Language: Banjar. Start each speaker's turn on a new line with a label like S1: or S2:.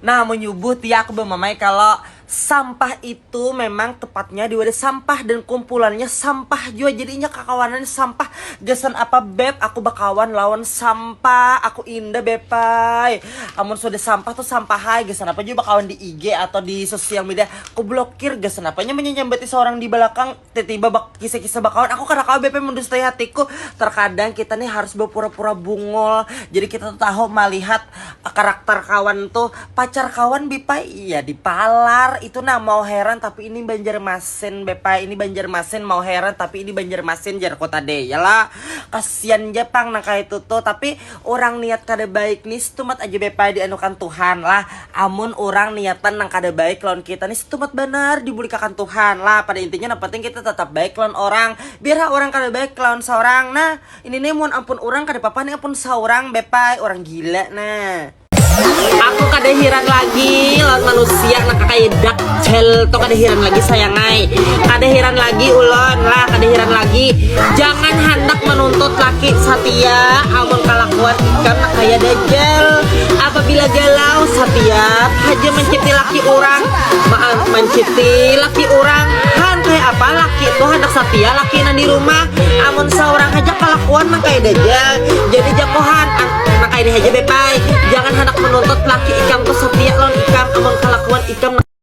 S1: Nah, menyebut ya aku bemamai kalau sampah itu memang tepatnya di wadah sampah dan kumpulannya sampah jua jadi inya kakawanan sampah gasan apa beb aku bakawan lawan sampah aku indah bepai amun sudah sampah tuh sampah hai gasan apa jua bakawan di IG atau di sosial media aku blokir gasan apanya menyambati seorang di belakang tiba-tiba kisah-kisah bakawan aku kada kawa BP mendustui hatiku terkadang kita nih harus berpura-pura bungul jadi kita tuh tahu melihat eh, karakter kawan tuh pacar kawan Bipa iya di palar itu nah mau heran tapi ini Banjarmasin Bepa ini Banjarmasin mau heran tapi ini Banjarmasin jar kota deh ya lah kasihan aja pang nang kayak itu tuh tapi orang niat kada baik nih stumat aja Bepa dianukan Tuhan lah Amun urang niatan nang kada baik lawan kita ni setumat banar dibuli'kakan Tuhan. Lah, pada intinya nang penting kita tatap baik lawan orang. Biar ha urang kada baik lawan saurang. Nah, ini ni mun ampun urang kada papa ni ampun saurang be pay, urang gila nah. Aku kada hiran lagi lawan manusia nang kakaya Duck. Hel tuh kada hiran lagi sayang ay kada hiran lagi ulon lah kada hiran lagi jangan handak menuntut laki satia amun kalakuan ikam nah kaya dajal apabila galau satia haja menciti laki urang maan menciti laki urang han kaya apa laki tuh handak satia laki nang di rumah amun saurang haja kalakuan nang kaya dajal jadi jako han nang kaya ini haja beb ay jangan handak menuntut laki ikam tuh satia lawan ikam amun kalakuan ikam nang.